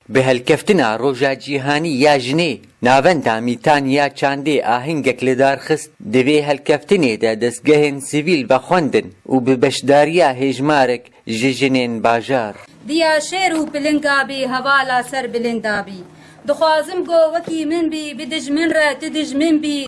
Bi hilkeftina Roja Cîhanî ya Jinê, Navenda Mîtan ya Çandê ahengek li dar xist, di vê hilkeftinê de destgehên sivîl vexwendin û bi beşdariya hêjmarek ji jinên bajar. Diya şêr û pilinga bî hevala ser bilinda bî. Dixwazim ku wekî min bî, bi dijmin re tu dijmin bî.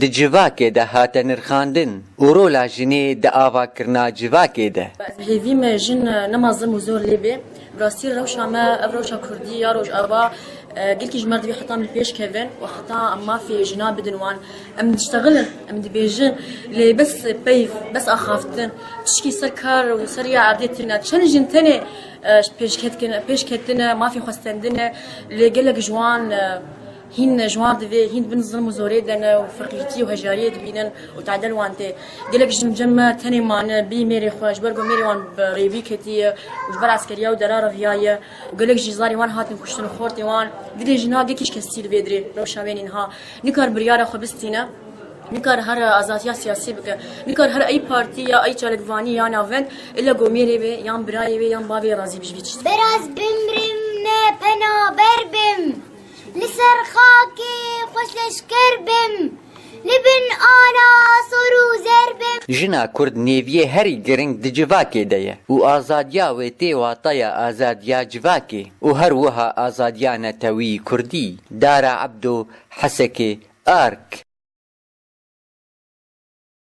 di civakê de hate nirxandin û rola jinê di avakirina civakê de. Ez hêvî me jin nema zilm û zor lê bê. Bi rastî rewşa me, ev rewşa kurdî ya rojava gelkî ji me re divê heta min pêş kevin û heta em mafê jinan bidin wan. Em diştexilin, em dibêjin lê bes peyv, bes axaftin, tişkî ser kar û ser rêya erdê tune. Çend jin tenê pêşketine, mafê xwe stendine lê gelek ji wan, Hîn ji wan divê hîn di bin zilm û zorê de ne û feqîrtî û hejariyê dibînin û tadel wan tê. Gelek jin cem me tenê mane bî mêrê xwe ji ber ku mêrê wan bi rêvî ketiye û ji ber eskeriya û dera re viyaye û gelek jî zarê wan hatin kuştin û xortê wan didê jin ha gekiş kes tî li vê dirê rewşa wê nîn ha nikar biryara xwe bistîne nikar her azatiya siyasî bike nikar her ey partî ya ey çalakvanî ya navend ille ku mêrê wê yan birayê wê yan bavê wê razî bijî giçî. Biraz bimrim ne penaber bim. Li ser xakê xwe şeşker bim. Li bin ala sor û zer bim. Jina kurd nêviyê herî giring di civakê de ye û azadiya wê tê wataya azadiya civakê û her wiha azadiya netewî, kurdî, dara ebdo, hesekê, ark.